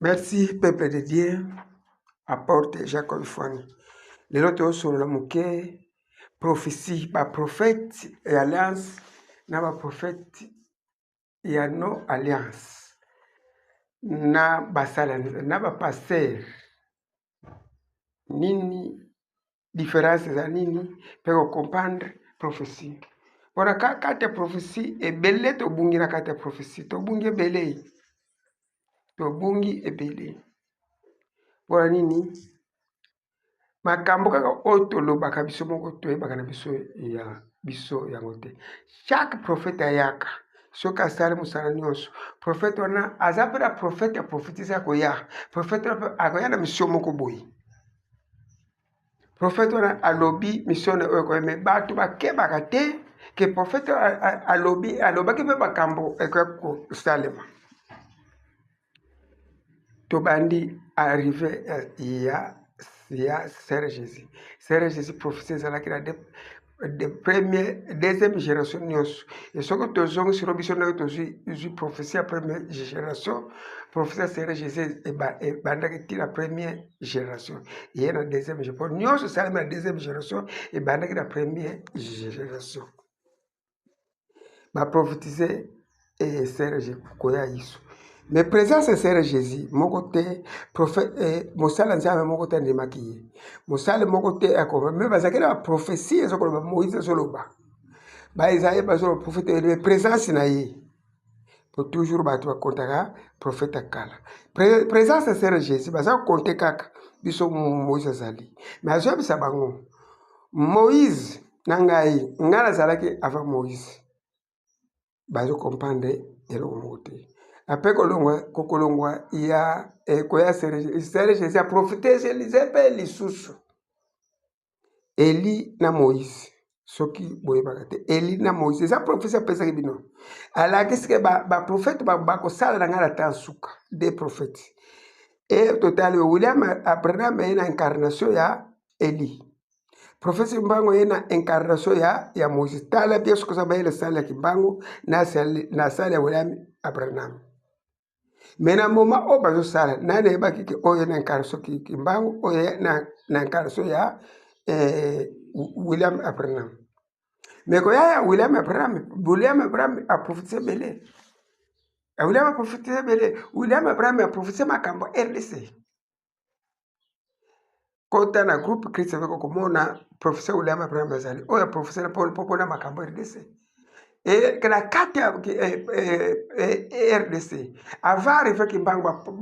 Merci peuple de Dieu apporte Jacob Fwani. Lelo tosolola moke prophetie ba prophète et alliance na ba prophète ya no alliance na basala na ba pasteur nini difference eza nini mpe kocomprendre prophetie mpona ka kati ya prophetie ebele tobungi na kati ya prophetie tobungi ebele tobungi ebele mpona nini makambo kaka oyo tolobaka biso moko toyebaka na biso ya biso yango te chaque prophète ayaka soki asali mosala nyonso prophète wana aza mpe na prophète ya prophétise akoya prophète wana mpe akoya na misio moko boye profete wana alobi misione oyo ekoya me bato bakebaka te ke profete alobi alobaki mpe makambo ekoya kosalema tobandi arrive ya ya sere jésus sere jésus profesi ezalaki na de premier deuxième génération nyonso e soki tozongisilo biso ndenge tozwi prophétie ya première génération prophétie ya seigneur jésus ebandaki ti na première génération eye na deuxième génération mpo nyonso esalemi na deuxième génération ebandaki na première génération ba prophétiser et eh, Serge koya Yesu mais présence ya Serge Jésus moko te prophète eh, mosala nzambe moko te andimaki ye mosala moko te akoma mais bazalaki na prophétie ezo koloba Moïse azoloba ba Isaïe bazoloba prophète mais présence na ye po toujours bato bakontaka prophète ya kala présence ya Serge Jésus baza konte kaka biso Moïse azali mais azoyebisa bango Moïse na ngai ngai nazalaki avant Moïse bazo comprendre eloko moko te ape kolongwa kokolongwa ya ekoya eh, Israël Jésus aprofite elize mpe lisusu Eli na Moïse soki boyebaka te Eli na Moïse eza profesi apesaki bino alakisi ke baprofete ba bakosala na ngai na temps suka de profete e totali William Abraham eye na incarnation ya eli profesi mbango ye na incarnation ya ya moïse tala bie soki oza bayele sale ya kimbango na sale ya william abraham me na moma oyo bazosala nani ayebaki ke oyo na incarnation kimbango oyo na incarnation ya eh, william abraham me koya ya william abraham william abraham aprofitise ebele william aprofitise ebele william abraham aprofitise makambo rdc kota na groupe christian oko komona professeur william abraham azali oyo ya professeur paul mpo mpona makambo rdc e, na kati ya e, e, rdc ava arrive kimbangu